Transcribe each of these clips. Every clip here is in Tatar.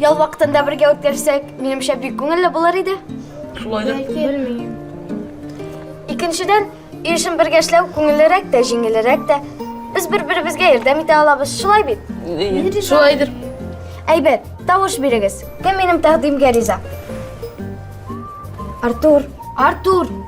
Ял вакытын да бергә үткәрсәк, минемчә бик күңелле булыр иде. Шулай да белмим. Икенчедән, өй эшен бергә эшләү күңеллерәк тә, җиңелрәк тә. Без бер-беребезгә ярдәм итә алабыз, шулай бит? Шулайдыр. Әйбәт, тавыш бирегез. Кем минем тәкъдимгә риза? Артур. Артур.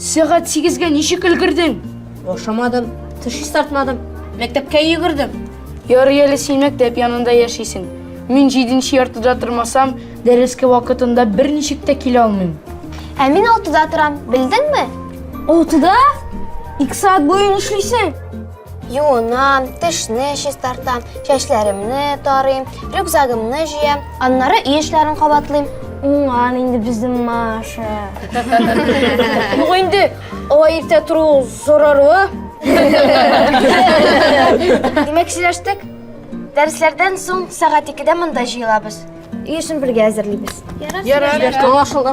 Сәгать сигезгә ничек өлгердең? Ашамадым, тыш чистартмадым, мәктәпкә йөгердем. Ярый әле син мәктәп янында яшисең. Мин җиденче яртыда тормасам, дәрескә вакытында берничек тә килә алмыйм. Ә мин алтыда торам, белдеңме? Алтыда? Ике сәгать буе эшлисең. Юынам, тешне чистартам, чәчләремне тарыйм, рюкзагымны җыям, аннары өй эшләрен кабатлыйм. Уңган инде безнең Маша. Юк инде, алай иртә тору зарарлы. Димәк, сөйләштек. Дәресләрдән соң сәгать 2-дә монда җыелабыз. Өй эшен бергә әзерлибез. Ярар, аңлашылды.